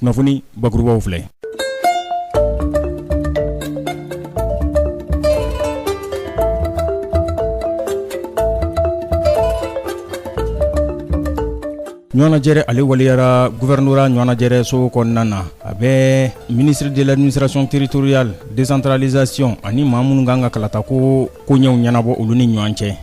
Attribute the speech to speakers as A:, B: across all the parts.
A: kunnafoni bakurubaw filɛ ɲɔgɔnajɛrɛ ale waleyara guvɛrɛnora ɲɔgɔnajɛrɛ so kɔnɔna na a bɛ ministre de l'administration territoriale décentralisation ani maa minnu kan ka kalatako koɲɛw ɲɛnabɔ olu ni ɲɔgɔn cɛ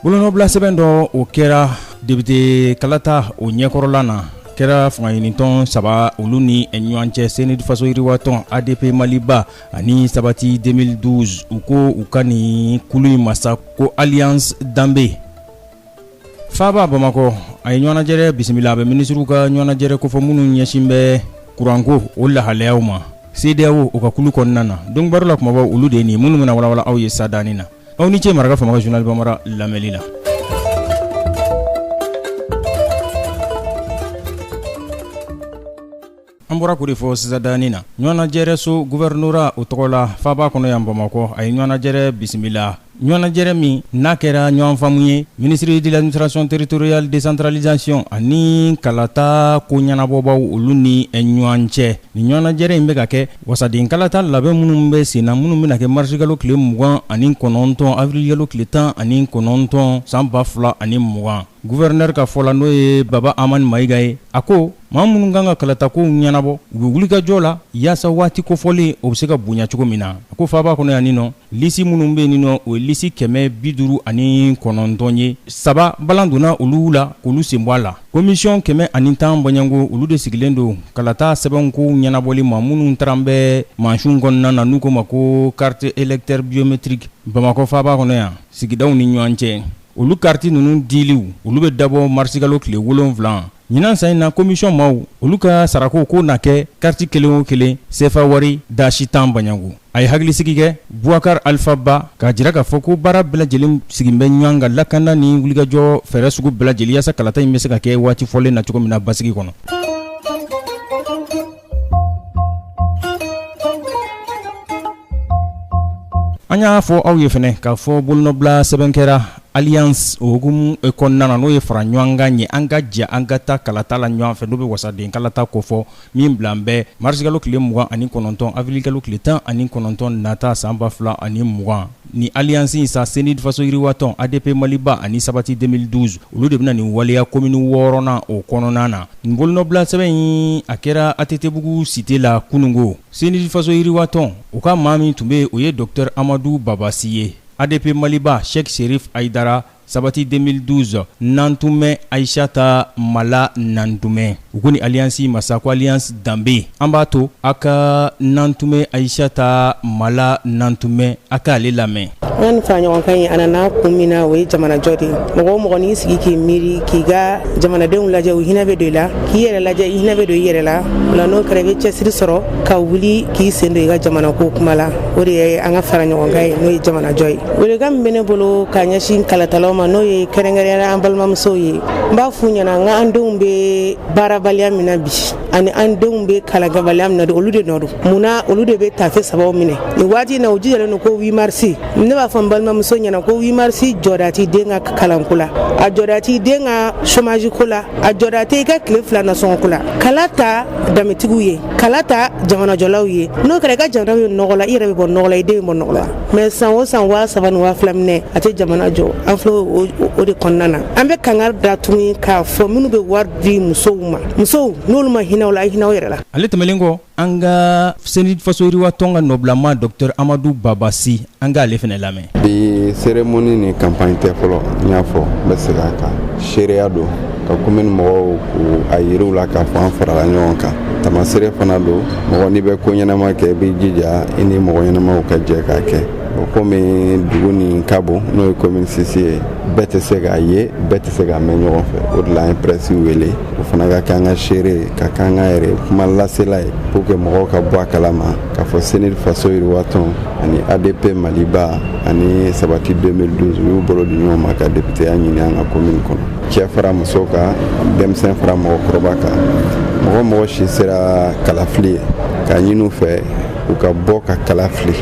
A: Bolonɔbilasɛbɛn dɔ o kɛra depite kalata o ɲɛkɔrɔla na kɛra fanga ɲinitɔn saba olu ni ɲɔgɔn cɛ cnid faso yiriwatɔn adp maliba ani sabati 2012 u ko u ka nin kulu in ma sa ko alliance danbe faaba bamakɔ a ye ɲɔgɔnajɛrɛ bisimila a bɛ minisiriw ka ɲɔgɔnajɛrɛ kofɔ minnu ɲɛsin bɛ kuranko o lahalayaw ma cedeao o ka kulu kɔnɔna na donbaro la kumabaw olu de ye nin minnu bɛna walawala aw ye sadani na aw ni ce maraka fama ka journal bambara lamɛli la. an bɔra k'o de fɔ sisadani na ɲɔgɔnajɛrɛso guvɛrɛnora o tɔgɔ la faaba kɔnɔ yan bamakɔ a ye ɲɔgɔnajɛrɛ bisimila ɲɔgɔnajɛrɛ min n'a kɛra ɲɔgɔnfaamu ye ministre de l'administration territoriale décentralisation ani kalata ko ɲɛnabɔbaaw olu ni ɲɔgɔn cɛ nin ɲɔgɔnajɛrɛ in bɛ ka kɛ Wasadenkalata labɛn minnu bɛ sen na minnu bɛna kɛ marisikalo tile mugan ani kɔnɔntɔn awirilikalo tile tan ani kɔnɔntɔn san ba fila ani mugan guvɛrɛnɛrɛ ka fɔ la n'o ye baba hamane mayiga ye a ko maa minnu kan ka kalatakow ɲɛnabɔ u bɛ wulikajɔ la yaasa waati kofɔlen o bɛ se ka bonya cogo min na a ko faaba kɔnɔ yan nin nɔ lisi minnu bɛ nin nɔ o ye lisi kɛmɛ bi duuru ani kɔnɔntɔn ye saba balan donna olu la k'olu sen bɔ a la Komisiyɔn kɛmɛ ani tan bɔɲɔgɔnko olu de sigilen don kalata sɛbɛn ko ɲɛnabɔli ma minnu taara bɛ mansin kɔnɔna na n'u ko ma ko carte électeur biométrique bamakɔ faba kɔnɔ yan sigidaw ni ɲɔgɔn cɛ olu kariti ninnu diliw olu bɛ dabɔ marisikalo tile wolonfila ɲinan san in na komisiyɔn maaw olu ka sarako ko na kɛ kariti kelen o kelen sefa wari dasi tan bɔɲɔgɔnko A ye hakilisigi kɛ Boubacar Alpha Ba k'a jira k'a fɔ ko baara bɛɛ lajɛlen sigilen bɛ ɲɔan kan lakanda ni wulikajɔ fɛɛrɛ sugu bɛɛ lajɛlen yaasa kalata in bɛ se ka kɛ waati fɔlen na cogo min na basigi kɔnɔ. An y'a fɔ aw ye fɛnɛ k'a fɔ bolonɔbila sɛbɛn kɛra alliance o hukumu kɔnɔna na n'o ye fara ɲɔan kan ye an ka jɛ an ka taa kalata la ɲɔan fɛ n'o bɛ wasaden kalata kofɔ. min bila bɛ marisikalo tile mugan ani kɔnɔntɔn afirilikalo tile tan ani kɔnɔntɔn nata san ba fila ani mugan ni alliance in sa cnid faso yiriwatɔn adp maliba ani sabati 2012 olu de bɛna nin waleya komini wɔɔrɔnan o kɔnɔna na nin bolonɔbilasɛbɛn in a kɛra attbugu site la kunungo cnid faso yiriwatɔn u ka maa min tun bɛ yen o ye docteur amadu baba sy ye adp maliba cheick chérif haïdara Sabati 2012 Nantunme Ayisata Mala Nantunme u ko nin alliance in ma sa ko alliance danbe an b'a to a ka Nantunme Ayisata Mala Nantunme a k'ale lamɛn. An ni
B: faraɲɔgɔnkan in a nana kun min na o ye jamanajɔ de ye mɔgɔ o mɔgɔ n'i sigi k'i miiri k'i ka jamanadenw lajɛ u hinɛ bɛ don i la k'i yɛrɛ lajɛ i hinɛ bɛ don i yɛrɛ la o la n'o kɛra i bɛ cɛsiri sɔrɔ ka wuli k'i sen don i ka jamana ko kuma la o de ye an ka faraɲɔgɔnkan ye n'o ye jamanajɔ ye welekan min bɛ ne bolo ka ɲɛsin kalatalaw ma n'o ye kɛrɛnkɛrɛnnenya la an balimamusow ye n b'a f'u ɲɛna k'an denw bɛ baarabaliya min na bi ani an denw bɛ kalankɛbaliya min na olu de nɔ don mun na olu de bɛ taafe sabaw minɛ nin waati in na u jijalen don ko 8 mars ne b'a fɔ n balimamuso ɲɛna ko 8 mars jɔda t'i den ka kalanko la a jɔda t'i den ka chômage ko la a jɔda tɛ i ka tile fila nasɔngɔko la kala ta danbetigiw ye kala ta jamanajɔlaw ye n'o kɛra i ka jamana bɛ nɔgɔ la i yɛrɛ bɛ bɔ nɔgɔ la i den bɛ bɔ nɔgɔ la mais san o san waa saba ni waa fila minɛ a tɛ jamana jɔ an filɛ o de kɔnɔna na an bɛ kangari da tuguni k'a fɔ minnu bɛ wari di musow ma musow n'olu ma hinɛ aw la a hinɛ aw yɛrɛ la ale tɛmɛnen kɔ
A: An ka CNID faso yiriwatɔn ka nɔbila Docteur Amadu Baba Si, an ka ale fɛnɛ lamɛn. Bi
C: cérémonie nin campagne tɛ fɔlɔ, n y'a fɔ n bɛ segin a kan. Seereya don ka commune mɔgɔw k'a yira u la k'a fɔ an farala ɲɔgɔn kan. Taamaseere fana don mɔgɔ n'i bɛ ko ɲɛnama kɛ, i b'i jija i ni mɔgɔ ɲɛnamaw ka jɛ k'a kɛ. Bon komi dugu nin ka bon n'o ye commune VI ye, bɛɛ tɛ se k'a ye, bɛɛ tɛ se k'a mɛn ɲɔgɔn fɛ. O de la an ye presse wele. o fana ka kɛ an ka seere ye ka kɛ an ka yɛrɛ kuma lasela ye pour que mɔgɔw ka bɔ a kalama k'a fɔ CNID faso yiriwatɔn ani adp maliba ani sabati 2012 u y'u bolo di ɲɔgɔn ma ka depiteya ɲini an ka komini kɔnɔ cɛ fara muso kan denmisɛn fara mɔgɔkɔrɔba kan mɔgɔ o mɔgɔ si sera kalafili ye k'a ɲini u fɛ u ka bɔ ka kala fili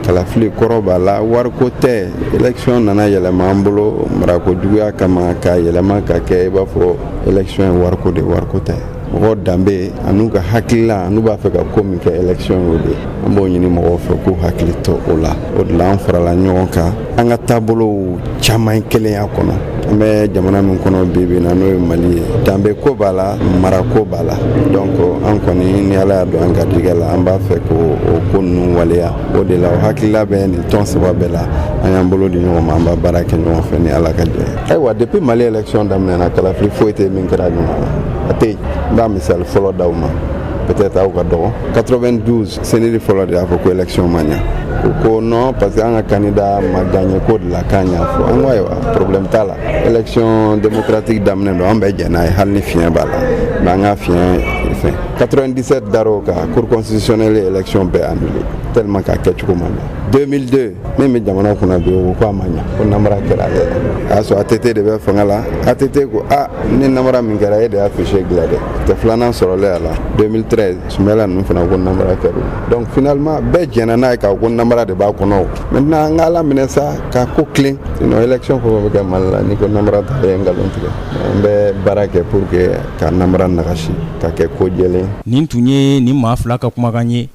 C: kalafili kɔrɔ b'a la wariko tɛ election nana yɛlɛma an bolo marako juguya kama k'a yɛlɛma ka kɛ i b'a fɔ election ye wariko de wariko tɛ mɔgɔ danbe an'u ka hakilila an'u b'a fɛ ka ko min kɛ election y'o de an b'o ɲini mɔgɔw fɛ k'u hakili to o la o de la an farala ɲɔgɔn kan an ka taabolow caman ye kelenya kɔnɔ an bɛ jamana min kɔnɔ bi bi na n'o ye mali ye danbe ko b'a la mara ko b'a la donc an kɔni ni ala y'a don an garijɛgɛ la an b'a fɛ k'o ko ninnu waleya o de la o hakilila bɛ nin tɔn saba bɛɛ la an y'an bolo di ɲɔgɔn ma an b'a baara kɛ ɲɔgɔn fɛ ni ala ka jɛ ayiwa depuis mali élection daminɛna kalafili foyi tɛ min kɛra ɲuman na a tɛ yen n b'a misali fɔlɔ d'aw ma peut-être aw ka dɔgɔ 92 CNID fɔlɔ de y'a fɔ ko élection ma ɲa u ko non parce que an ka candidat ma gagné k'o de la k'an y'a fɔ an ko ayiwa problème t'a la élection démocratique daminɛ don an bɛ jɛn n'a ye hali ni fiɲɛ b'a la mais an ka fiɲɛ fɛn 97 dar'o kan cour constitutionnelle ye élection bɛɛ annulé tellement k'a kɛcogo ma ɲa 2002 min bɛ jamana kunna bi o ko a ma ɲa ko namara kɛra ale la a y'a sɔrɔ ATT de bɛ fanga la ATT ko a ni namara min kɛra e de y'a fichier dilan dɛ tɛ filanan sɔrɔlen a la 2013 Soumaïla ninnu fana ko namara kɛra donc finalement bɛɛ jɛnna n'a ye k'a ko namara de b'a kɔnɔ maintenant an ka ala minɛ sa ka ko tilen sinon élection fɛn bɛ kɛ Mali la n'i ko namara ta ye nkalon tigɛ an bɛ baara kɛ pour que ka namara nagasi ka kɛ ko jɛlen nin tun ye
A: nin maa fila ka kumakan ye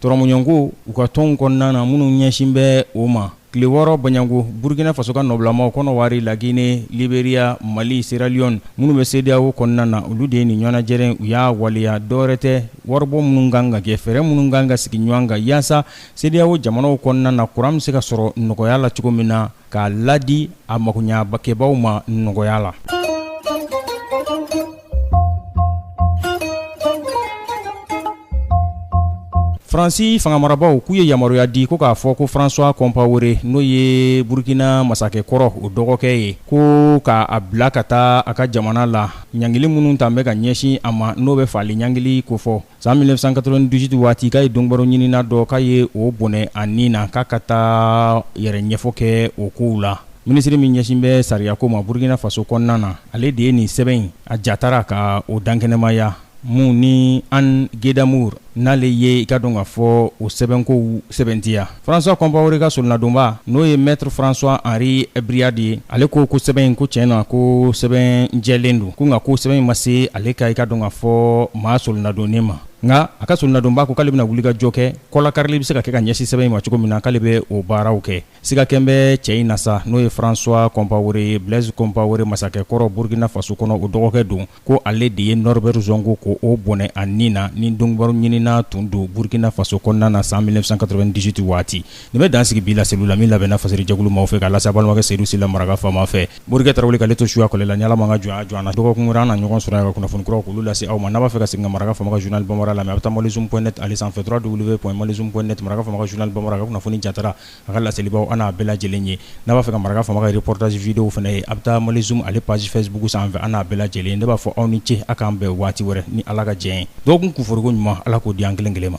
A: Tɔrɔmɔɲɔgɔnko, u ka tɔnw kɔnɔna na minnu ɲɛsin bɛ o ma, tile wɔɔrɔ Baɲango, Burukina Faso ka nɔbilamaw, Kɔnɔwari, La Guinée, Liberia, Mali, Sierra Leone, minnu bɛ CEDEAO kɔnɔna na, olu de ye nin ɲɔgɔnnajɛrɛ in, u y'a waleya dɔwɛrɛ tɛ, waribɔ minnu ka kan ka kɛ, fɛɛrɛ minnu ka kan ka sigi ɲɔgɔn kan, yaasa CEDEAO jamanaw kɔnɔna na, kuran bɛ se ka sɔrɔ nɔgɔya la cogo min na. k'a ladi a magoɲakɛbaaw ma nɔgɔya la. faransi fangamarabaaw k'u ye yamaruya di ko k'a fɔ ko françois compaoré n'o ye burukina masakɛ kɔrɔ o dɔgɔkɛ ye ko ka a bila ka taa a ka jamana la ɲangili minnu tan bɛ ka ɲɛsin a ma n'o bɛ faali ɲangili kofɔ San 1998 waati k'a ye donkibaru ɲinina dɔ k'a ye o bɔnɛ a ni na k'a ka taa yɛrɛ ɲɛfɔ kɛ o kow la minisiri min ɲɛsin bɛ sariyako ma Burkina Faso kɔnɔna na, ale de ye nin sɛbɛn in a jatara ka o dankɛnɛmaya mun ni Anne Guedamour n'ale ye i k'a dɔn k'a fɔ o sɛbɛnkow sɛbɛntiya. François Compaoré ka solonadonbaa n'o ye Maître François Henri Briard ye ale ko ko sɛbɛn in ko tiɲɛ na ko sɛbɛn jɛlen don ko nka ko sɛbɛn in ma se ale ka i k'a dɔn k'a fɔ maa solonadonnen ma nka a ka solonadonbaa ko k'ale bɛna wulikajɔ kɛ kɔlakarili bɛ se ka kɛ ka ɲɛsin sɛbɛn in ma cogo min na k'ale bɛ o baaraw kɛ siga kɛn bɛ cɛ in na sa n'o ye François Compaoré Blaise Compaoré masakɛ kɔrɔ Burkina Faso kɔnɔ o dɔgɔkɛ don ko ale de ye norbert zongo ko o bɔnɛ a ni na ni donkibaru ɲinina tun don burukina faso kɔnɔna na san 1998 waati nin bɛ dan sigi bi laseli la min labɛnna fasiri jɛkulu maaw fɛ k'a lase a balimakɛ seydou sylla maraka faama fɛ morikɛ tarawele k'ale to suya kɛlɛ la ni ala m'an ka jɔnya jɔ an na dɔgɔkun wɛrɛ an na ɲɔgɔn sɔrɔ yan ka kunnafoni kuraw k'olu lase aw ma n'a b'a fɛ ka segin ka maraka faama ka journal bambara lamɛn a bɛ taa malizoom point net ale sanfɛ trois w point malizoom point net maraka faama ka journal bambara ka kunnafoni jatara A ka laselibaw an n'a bɛɛ lajɛlen ye n'a b'a fɛ ka maraka faama ka reportage vidéo fana ye a bɛ taa malizoom ale page facebook sanfɛ an n'a bɛɛ lajɛlen ne b'a fɔ aw ni ce a k'an bɛn waati wɛrɛ ni ala ka diɲɛ ye dɔgɔkun kuforoko ɲuman ala k'o di an kelen kelen ma